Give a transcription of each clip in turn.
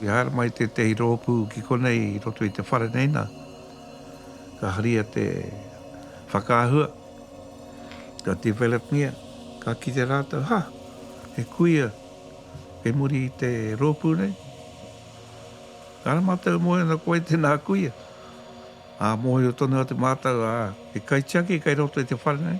I haere mai tētehi rōpū ki konei i roto i te whare nei nā, ka haria te whakaahua, ka developngia, ka kite rātou, ha, he kuia kei muri i te rōpū nei. Kāre mātou e mōhio ana ko wai tēnā kuia. Ā, mōhio tonu atu mātou, ā, he kaitiaki kei roto i te whare nei.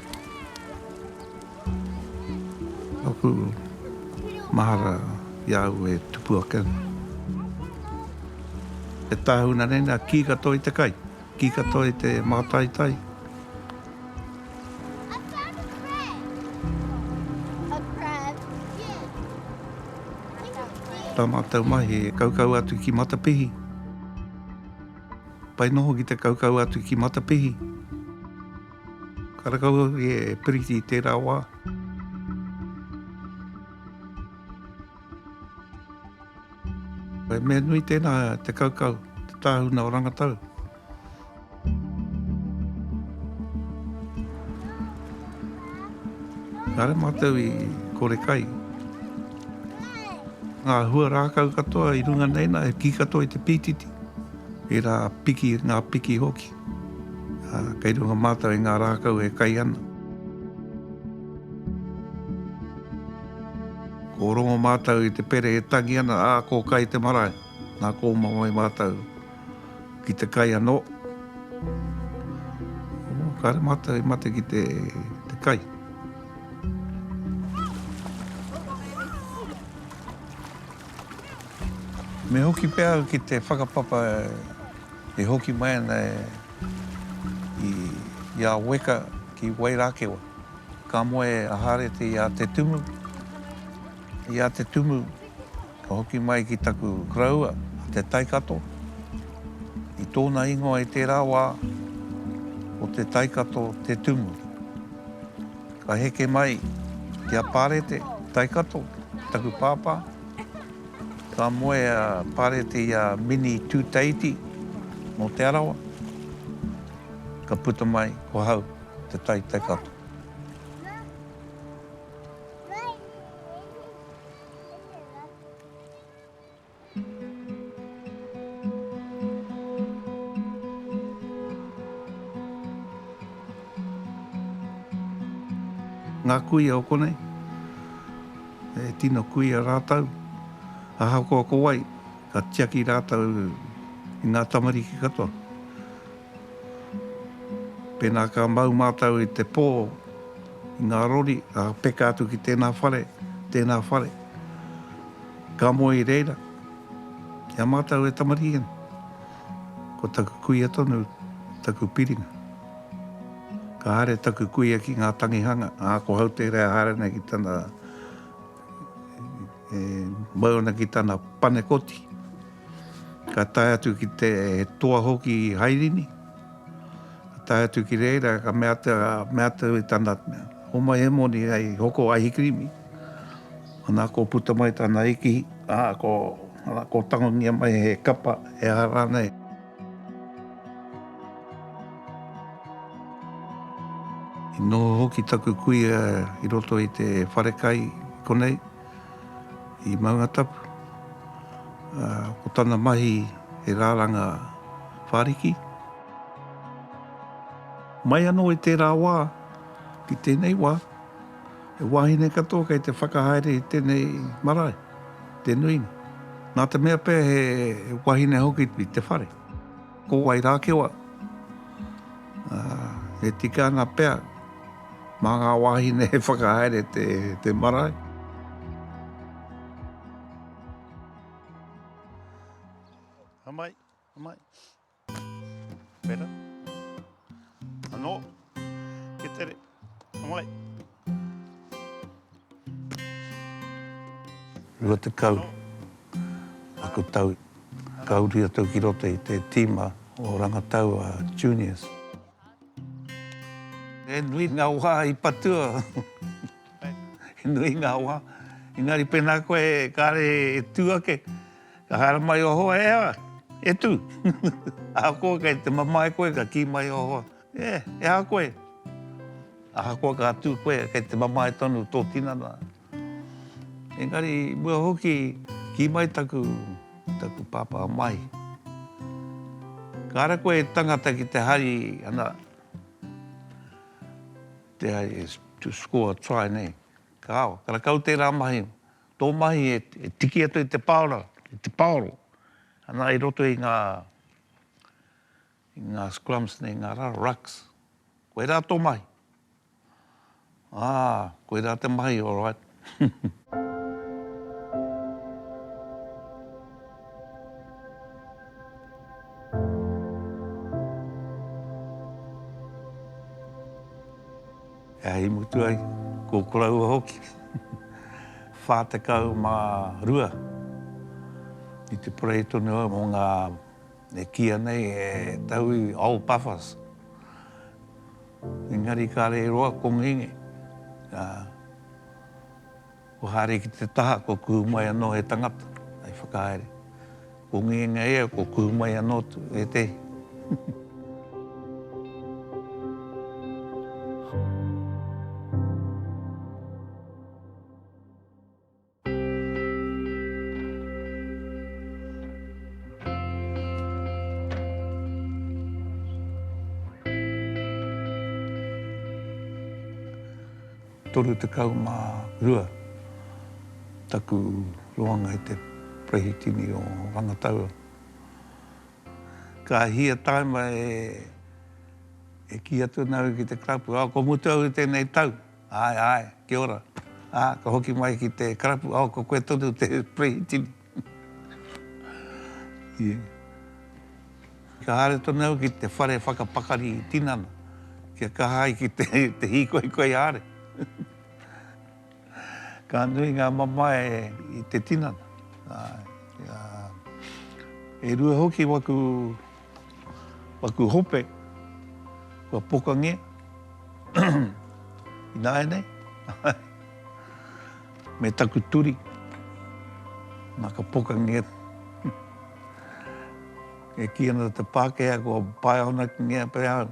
Aku mahara i a au e tupu ake ana. E tāhuna nei nā, kī katoa i te kai, kī katoa i te mātaitai. Tā mātou mahi e kaukau atu ki Matapihi. Pai noho ki te kaukau atu ki Matapihi. Ka rakau hoki e Piriti i tērā wā. He mea nui tēnā te kaukau, te tāhuna o rangatau. Nā re mātou i kore kai. Ngā hua rākau katoa i runga nei nā, e ki katoa i te pītiti. E rā piki, ngā piki hoki. Ā, kei runga mātou i ngā rākau e kai ana. Ko Rongo mātou i te pere e tangi ana, ā, ko Kai te marae. Nā kōmamai mātou ki te kai anō. Ō, kāre mātou i mate ki te, te kai. Me hoki pea au ki te whakapapa I hoki mai ana e i a Weka ki Wairakewa. Ka moe a Harete i a Te Tumu. I a Te Tumu ka hoki mai ki taku koroua a Te Taikato. I tona ingoa i tera wa ko Te Taikato Te Tumu. Ka heke mai ki a Parete Taikato taku papa. Ka moe a Parete i a Mini Tūteiti nō Te Arawa. Ka puta mai ko Hau te tai Taikato. Ngā kuia o konei. E tino kuia rātou, ahakoa ko wai, ka tiaki rātou i ngā tamariki katoa. Pēnā ka mau mātou i te pō, i ngā rori, ka peka atu ki tēnā whare, tēnā whare, ka moe i reira. Ki a mātou e tamariki nei, ko taku kuia tonu taku piringa. Ka haere taku kuia ki ngā tangihanga, ā, ko Hautere e haere ana ki tana, e mau ana ki tana panekoti. Ka tae atu ki te toa hoki i Hairini. Ka tae atu ki reira, ka mea atu, mea atu i tana, homai he moni ai hoko aihi kirimi. Ana ko puta mai tana ikihi, ā, ko, ana ko tangongia mai he kapa, e aha rānei. I noho hoki taku kuia i roto i te wharekai konei, i Maungatapu. Ko tana mahi he rāranga whāriki. Mai anō i tērā wā ki tēnei wā. He wāhine katoa kei te whakahaere i tēnei marae, te nuinga. Nā te mea pea he wahine hoki i te whare. Ko Wairākewa, e tika ana pea mā ngā wāhine e whakahaere te, te marae. Amai, amai. Better. Anō. Kia tere. Mai. 20 aku tau ka uru i a tau ki roto i te tīma o rangataua juniors. He nui ngā wā i patua. He nui ngā wā. Engari pēnā koe kāre e tū ake, ka haere mai o hoa, e aha, e tū. Ahakoa kei te mamae koe ka kī mai o hoa, e, e aha koe. Ahakoa ka tū koe kei te mamae tonu tō tinana. Engari i mua hoki, kī mai taku, taku pāpā mai, Kāre koe e tangata ki te hari, ana, te hari e, to score a try nei, kāo, karakau tērā mahi, tō mahi e, e tiki atu i te paora, i te paoro, ana, i roto i ngā, i ngā scrums nei, ngā raro, rucks, koirā tō mahi. Ā, koirā te mahi, alright. Ā, i mutu ai, ko koroua hoki, 42, i te parade tonu au mō ngā, e kīia nei, e Tauwi, Old Buffers. Engari kare e roa ko Ngenge, a, kua haere ki te taha kua kuhu mai anō he tangata, hei whakahaere. Ko Ngenge ia kua kuhu mai anō tu, ētehi. Toru tekau ma rua taku roanga i te Perehitini o Rangataua. Ka hia taima e ki atu ana au ki te club, ko mutu au i tenei tau. Āe, āe, kia ora. Ā, ka hoki mai ki te karapu, oh, ko koe tonu te Prehitini. Ē. Ka haere tonu au ki te whare whakapakari tinana, kia kaha ai ki te hīkoi koi are. Ka nui ngā mamae i te tinana, āe, ā, e rua hoki waku. Paku hope, kua pokangia, ināianei, me taku turi, nā ka pokangia, e kī ana te Pākehā, kua pae honakingia pea au.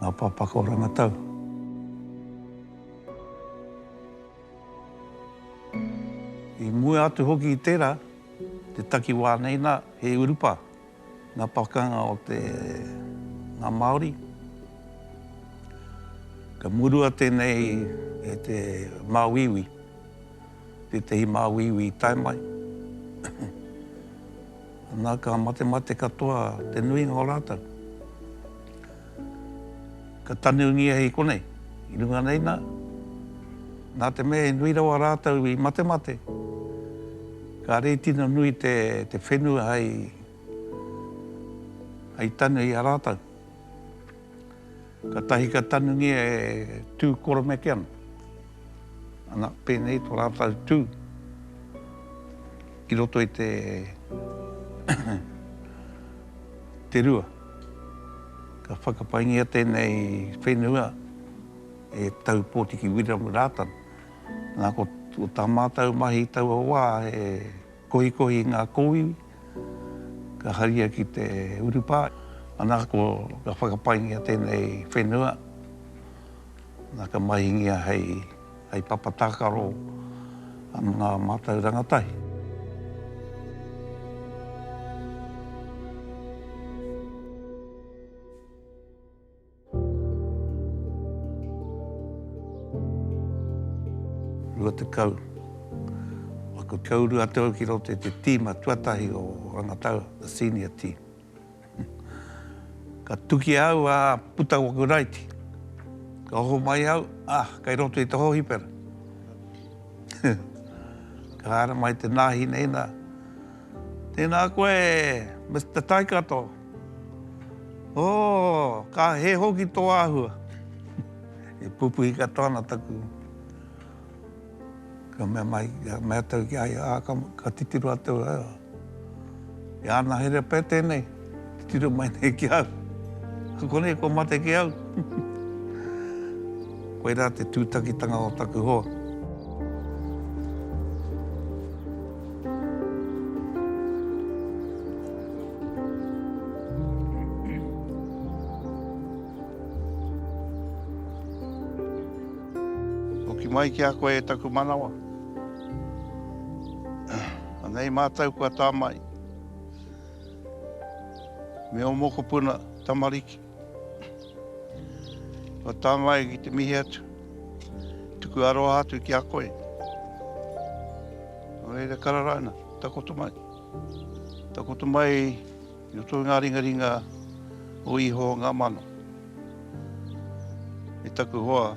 Ngā Pāpaka o Rangatau. I mua atu hoki i tērā, te takiwā nei nā, he urupā, ngā pakanga o te, ngā Māori. Ka murua tēnei e te māuiui, Tētehi māuiui i tae mai. Ana, ka matemate katoa te nuinga o rātou. Ka tanungia i konei, i runga nei nā, nā te mea he nui rawa rātou i matemate, ka rei tino nui te, te whenua hei, hei tanu i a rātou. Katahi ka tanungia e Tū Koromekeana, ana, pēnei to rātau tū i roto i te te rua. Ka whakapaingia tēnei whenua e Tau Pōtiki Wiremu Rātana. Nā, ko tā mātau mahi taua wā e Kohikohi ngā kōiwi, ka haria ki te urupā. Ana, ko, ka whakapaingia tēnei whenua, na, ka mahingia hei, hei papa tākaro a ngā mātauranga tahi. Rua tekau. Aku te uru atu au ki roto i te tīma tuatahi o Rangataua, the senior team. Ka tuki au, ā, puta ko aku raiti. Ka oho mai au, ā, kei roto i te hōhipera. Ka haere mai te nāhineina, Tēnā koe, Mister Taikato. Ooh, ka he hoki tō āhua. E pupuhi katoa ana taku, ka mea mai, ka mea tau ki a ia, aa, ka, ka titiro a tau aa, e ana here pea tēnei, titiro mai nei ki au. Ko konei kua mate ki au. Koirā te tūtakitanga o taku hoa. Hoki mai ki a koe e taku manawa. Anei mātou kua tāmai. Me o mokopuna tamariki. Kua tānga ai ki te mihi atu. Tuku aroha atu ki a koe. Nō reira karara ana, takoto mai. Takoto mai i roto i ngā ringaringa o iho ngā mano. E taku hoa,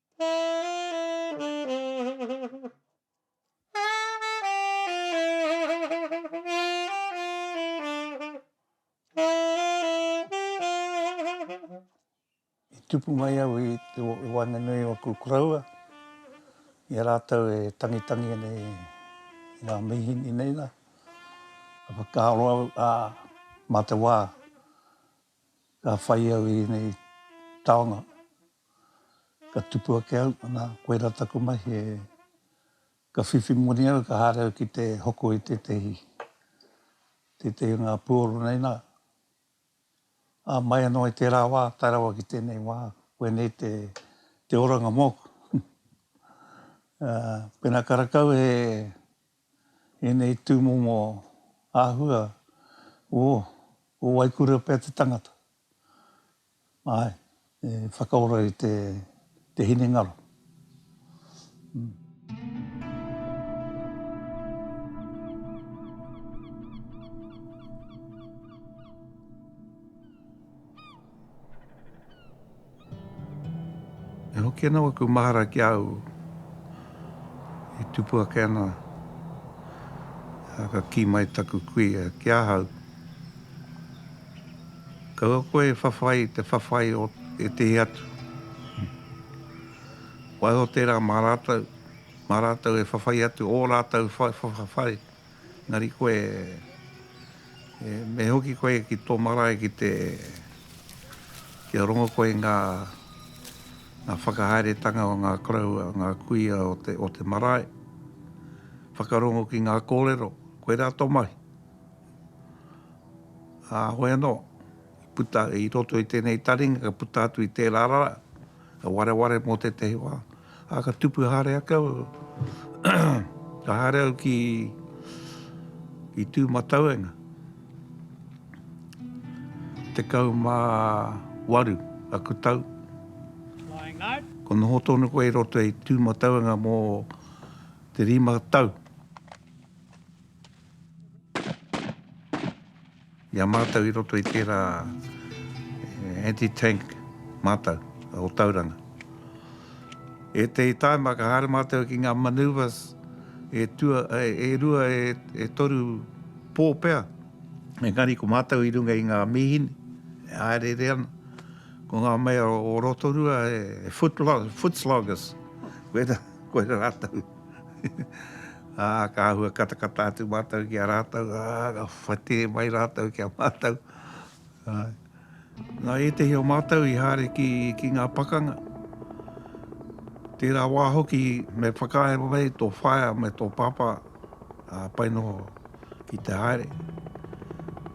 tupu mai au i te waenganui o aku kuraua, i a rātou e tangitangi ana i ngā mihini nei la, a whakaaro au, a mā te wā, Ka whai au i ēnei taonga, ka tupu ake au, anā, koirā taku mahi e, ka whiwhi moni au, ka haere au ki te hoko i tētehi, tētehi o ngā puoro nei nā. Ā, mai anō i tērā wā tae rawa ki tēnei wā, koinei te, te oranga mōku. Ā, pēnā ka rakau he. ēnei tūmomo āhua o o waikura pea te tangata. Ae, e whakaora i te te hinengaro. E hoki ana waku mahara ki a au e tupu ake ana, a, ka ki mai taku kuia ki ahau. Kaua koe e whawhai i te whawhai o ētehi atu. Waiho tērā mā rātou, mā rātou e whawhai atu ō rātou whawhai. Engari koe, e me hoki koe ki tō marae ki te, kia rongo koe ngā, ngā whakahaeretanga o ngā koroua, ngā kuia o te, o te marae, whakarongo ki ngā kōrero, koirā tō mahi. Ā, hoi anō. I puta i roto i tēnei taringa, ka puta atu i tērā rā, ka wareware mō tētahi wā, ā, ka tupu haere ake au, ka haere au ki, ki Tūmatauenga, 18 aku tau. Kua noho tonu koe i roto i Tūmatauenga mō te rima tau. I a mātou i roto i tērā anti-tank mātou o Tauranga. E te taima ka haere mātou ki ngā manoeuvres e, tua, e, e rua, e, e toru pō pea, engari ko mātou i runga i ngā mīhini, e haereere ana. Ko ngā mea o Rotorua e, e foot, foot sloggers, koera, koera rātou. Ā, ka āhua katakata atu mātou ki a rātou, ā, ka whati mai rātou ki a mātou. Ā, nā ētehi o mātou i haere ki, ki ngā pakanga. Tērā wā hoki me whakaae mai tō whaea me tō pāpā, ā, pai noho. Ki te haere,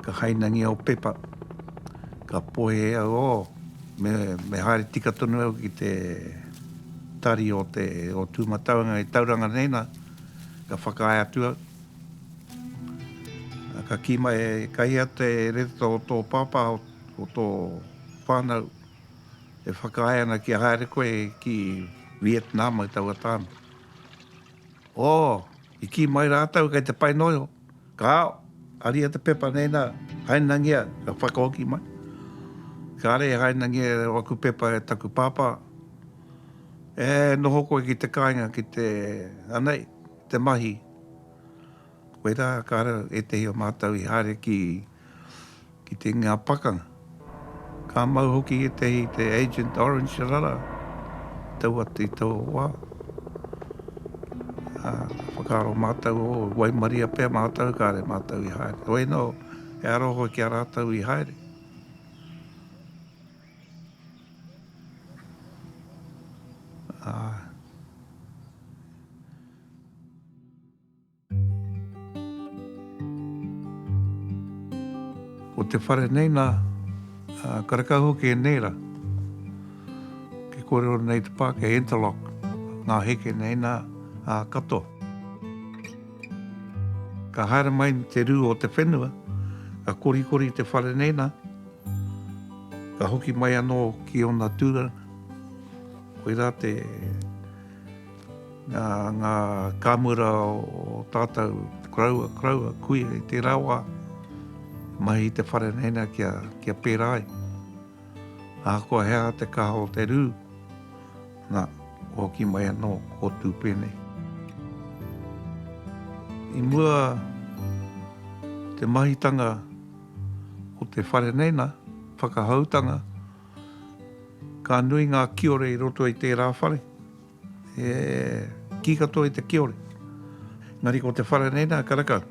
ka hainangia o Pepa, ka poe e au, oh, me, me haere tika tonu au ki te tari o te, o Tūmatauenga i Tauranga nei na, ka whakaae atu au. Ka kī mai, e Kahia te reta o tō pāpā, o tō whānau, e whakaae ana kia haere koe ki Vietnam i taua tāne. Oh! I kī mai rātou kei te pai noa iho. Kāo, haria te pepa nei nā, hainangia, ka whakahoki mai. Kāre e hainangia e aku pepa e taku pāpā, E noho koe ki te kāinga, ki te, anei, te mahi. Koirā, kāre ētehi o mātou i haere ki. ki te ngā pakanga. Ka mau hoki ētahi te Agent Orange rara i tau atu i taua wā. Ā, ka whakaaro mātou, ō, waimaria pea mātou kāre mātou i haere. Hoi anō, e aro hoi ki a rātou i haere. Ā. Ko te whare nei nā, ā, karekau hoki e neera, kei kōrero nei te pā, kei interlock ngā heke nei nā, ā, katoa. Ka haere mai te rū o te whenua, ka korikori te whare nei nā, ka hoki mai anō ki ōna tūranga. Koirā te. Ngā kāmura o tātou koroua, koroua, kuia i tērā wā, i mahi i te whare nei nā kia pērā ai. Ahakoa he aha te kaha o te rū, nā, kua hoki mai anō kō tū pēnei. I mua te mahitanga o te whare nei nā, whakahoutanga, Ka nui ngā kiore i roto i tērā whare, e kī katoa i te kiore. Engari ko te whare nei nā, ka rakau.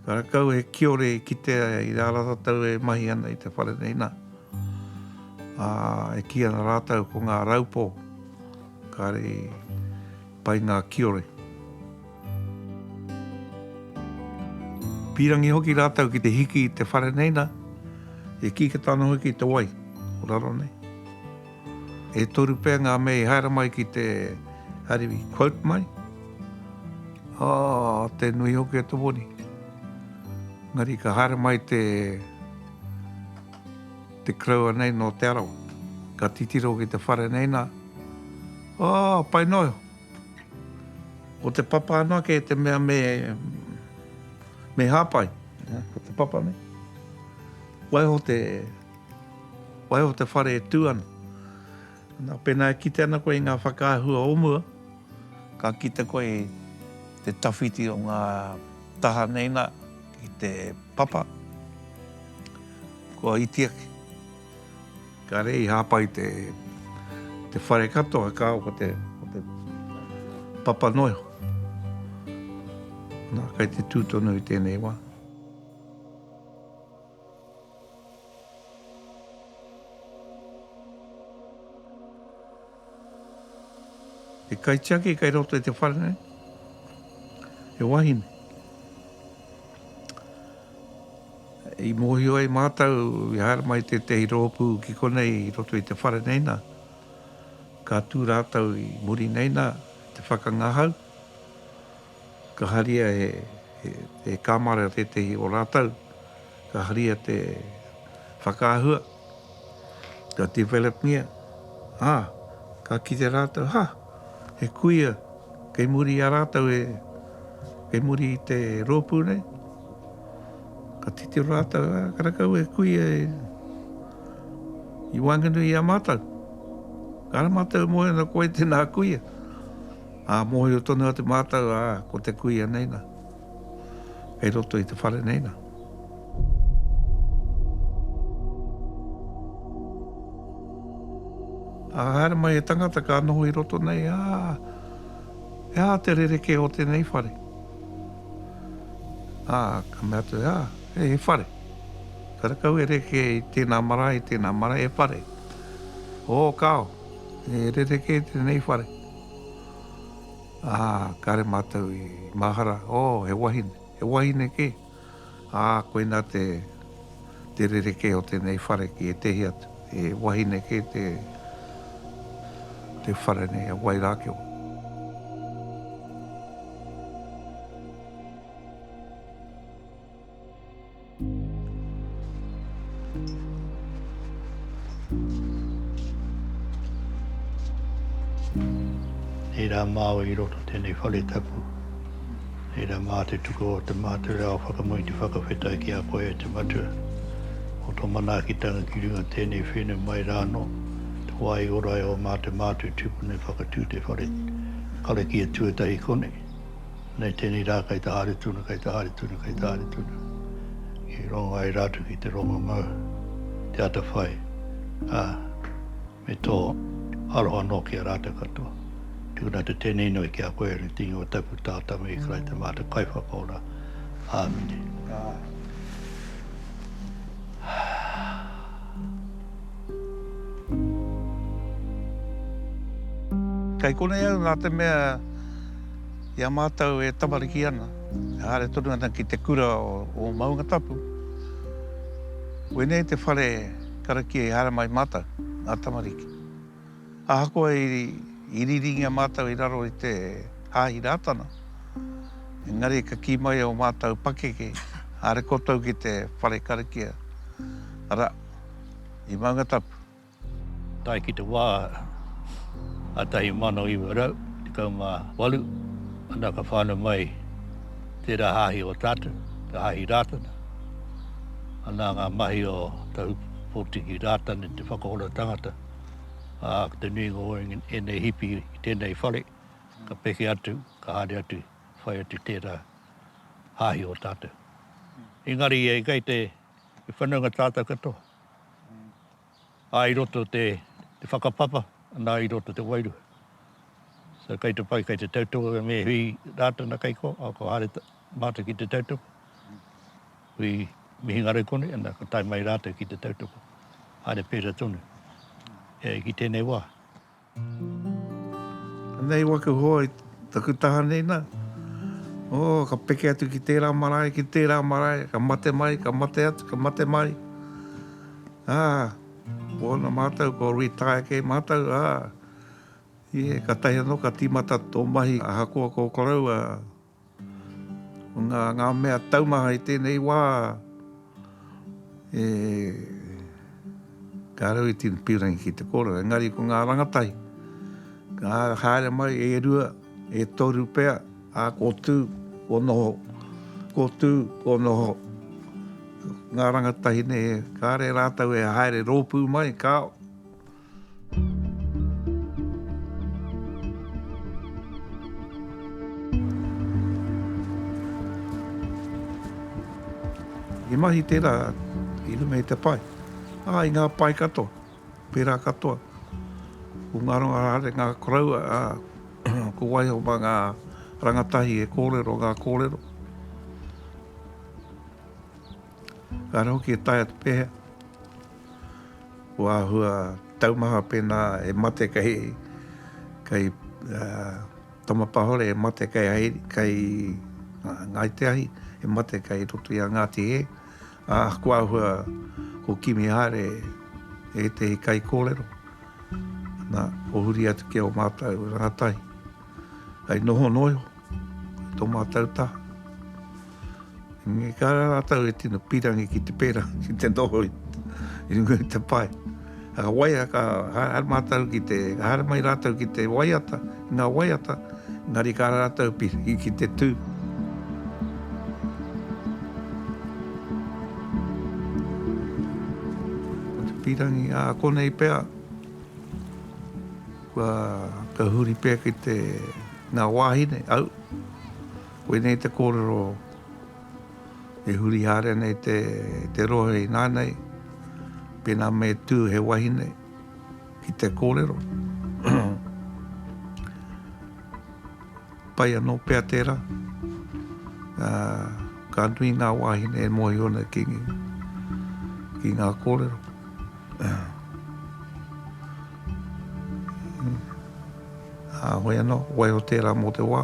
Ka rakau he kiore i kitea i rā rātou e mahi ana i te whare nei nā. Ā, e kī ana rātou ko ngā raupō, kāre i Pai ngā kiore. Pīrangi hoki rātou ki te hiki i te whare nei nā, e kīkata ana hoki i te wai o raro nei. E toru pea ngā mea i haere mai ki te Ariwi, quote mai, Oh, te nui hoki e te woni. Ngari ka haere mai te te kraua nei no Te Arawa. Ka titiro ki te whare nei nā, Oh, pai noa. Ko te papa noa kei te mea me, me hāpai. Ko te papa nei. Waiho te, waiho te whare e tū ana. Nā, pēnā e kite ana koe i ngā whakaahua o mua, ka kite koe i te tawhiti o ngā taha nei nā ki te papa, kua iti ake. Kāre i hāpai te te whare katoa ka ko te ko te papa noe. Na kai te tū tonu i tēnei wā. He kaitiaki kei roto i te whare nei, he wahine. I mōhio ai mātou i haere mai tētehi rōpū ki konei i roto i te whare nei nā, ka tū rātou i muri nei nā, te whakangahau, Ka haria he kamare o tētehi o rātou, ka haria te whakaahua, ka developngia, ā, ka kite rātou, ha, he kuia kei muri i a rātou e, kei muri i te rōpū nei, ka titiro rātou, ā, karakau he kuia e, i waenganui i a mātou. Kāre mātou e moe ana koe tēnā kuia. Ā, mōhio tonu atu mātou, ā, ko te kuia nei nā, kei roto i te whare nei nā. Ā, haere mai he tangata ka noho i roto nei, ā, e ā te rerekē o tēnei whare. Ā, ka mea atu, ā, he, he whare. Ka rakau e reke i tēnā marae, i tēnā marae, he whare. Ō, kāo, e rerekē tēnei whare. Ā, kāre mātou i mahara, ō, he wahine, he wahine kē. Ā, koinā te, te rerekē o tēnei whare ki ētehi atu. He wahine kē te, te whare nei a Wairākio. Nei rā māua i roto tēnei whare tapu. Nei rā mā te tuku o te mātaurau whakamui te whakawhetai ki a koe e te matua. O tō manaakitanga ki runga tēnei whenu mai rā anō, te wā i ora e o mā te mātua tupuna e whakatū te whare karakia tuatahi konei. Nei tēnei rā kei te haere tuna, kei te haere tuna, kei te haere tuna. I rongo ai rātou ki te rongo mau, te atawhai, ā, me tō aroha anō ki a rātou katoa. Tukuna te tēnei inoi ki a koe e Reti Ingoa Tapu Tātama i Karaita Mātou Kaiwhakaora. Āmine. Kei konei au nā te mea. I a mātou e tamariki ana, e haere tonu ana ki te kura o Maungatapu, wēnei te whare karakia i haere mai mātou, ngā tamariki. Ahakoa i riringia mātou i raro i te Hāhi Rātana, engari ka kī mai ō mātou pakeke, haere koutou ki te whare karakia, arā, i Maungatapu. Tae ki te wā 1918, ana ka whānau mai tērā hāhi o Tātou, te hāhi Rātana. Ana ngā mahi o Tahu Pōtiki Rātana i te whakaora tangata, ā, ko te nuinga o ēnei hipi i tēnei whare, ka peke atu, ka haere atu, whai atu tērā hāhi o Tātou. Engari, kei te whanaunga tātou katoa. Ā, i roto te whakapapa, nā, i roto te wairua. So, kei te pai, kei te tautoko, me hui Rātana kei ko, a, ko Hāre mātou ki te tautoko, hui Mihingarew konei, ana, ka tae mai rātou ki te tautoko. Haere pērā tonu, e, ki tēnei wā. Nei waku hoa i taku taha nei na, oh, ka peke atu ki tera marae, ki tera marae, ka mate mai, ka mate atu, ka mate mai, ah, ona matou ko retire kei matou, ah, yeah, katahi ano ka timata to mahi ahakoa ko koroua. Ngā mea taumaha i tēnei wā, e ka rau i tino pīrangi ki te kōrero, engari ko ngā rangatahi, ka haere mai e rua, e toru pea, ā, kō tū, kō noho, kō tū, kō noho. Ngā rangatahi nei, kāre rātou e haere rōpū mai, kāo. He mahi tērā i runga i te pae, ā, i ngā pae katoa, pērā katoa, ko ngā rangahāringa koroua, ā, ko waiho mā ngā rangatahi e kōrero ngā kōrero. Ehara hoki e taea te pehea. Kua āhua taumaha pēnā e mate kei, kei Tama Pahore e mate kei Hairi, kei Ngāi Te Ahi, e mate kei roto i a Ngāti Hē. Ā, kua āhua ko Kimi Haere e ētehi kaikōrero, nā, o huri atu ki a o mātou rangatahi. Hei noho noa iho. Tō mātou taha. Engari ka rā rātou e tino pīrangi ki te pērā, ki te noho i runga i te pae. Ka waia, ka haere mātou ki te, ka haere mai rātou ki te waiata, ngā waiata, engari ka rā rātou pīrangi ki te tū. Ko te pīrangi, ā, konei pea, Kua, ka huri pea ki te, ngā wāhine, au. Koinei te kōrero e huri haere nei te, te rohe inānei, pēnā me tū he wahine ki te kōrero. Pai anō pea tērā, ā, ka nui ngā wāhine e mōhio ana ki, ki ngā kōrero. Ā, hoi anō, waiho tērā mō te wā.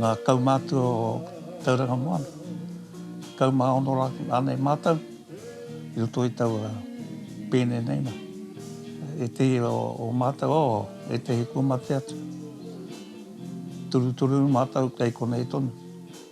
Ngā kaumātua o Tauranga Moana, tekau mā ono rā rānei mātou i roto i taua pēne nei nā. Ētehi o mātou, o, ētehi kua mate atu. Turutururu mātou kei konei tonu.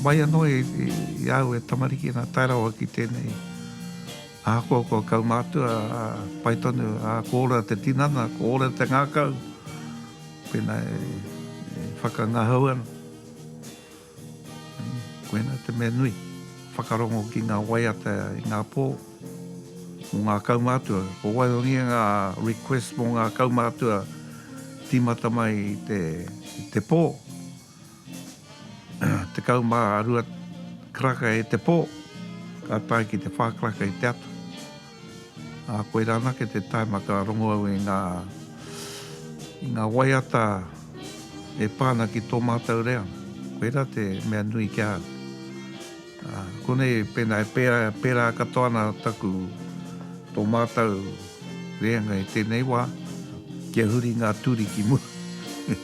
Mai anō i a au e tamariki nā tae rawa ki tēnei ahakoa kua kaumātua, pai tonu, ā, ko ora te tinana, ko ora te ngākau, pēnā e whakangahau ana. Koinā te mea nui, whakarongo ki ngā waiata i ngā pō mō ngā kaumātua. Kua waihangia ngā request mō ngā kaumātua tīmata mai i te, i te pō. Tekau mā rua karaka i te pō, ka tae ki te whā karaka i te ato. Ā, koirā anake te taima ka rongo au i ngā, i ngā waiata e pā ana ki tō mātou reo. Koirā te mea nui ki a au. Ā, konei pēnā e pērā, pērā katoa ana taku, tō mātou reanga i tēnei wā, kia huri ngā turi ki mua.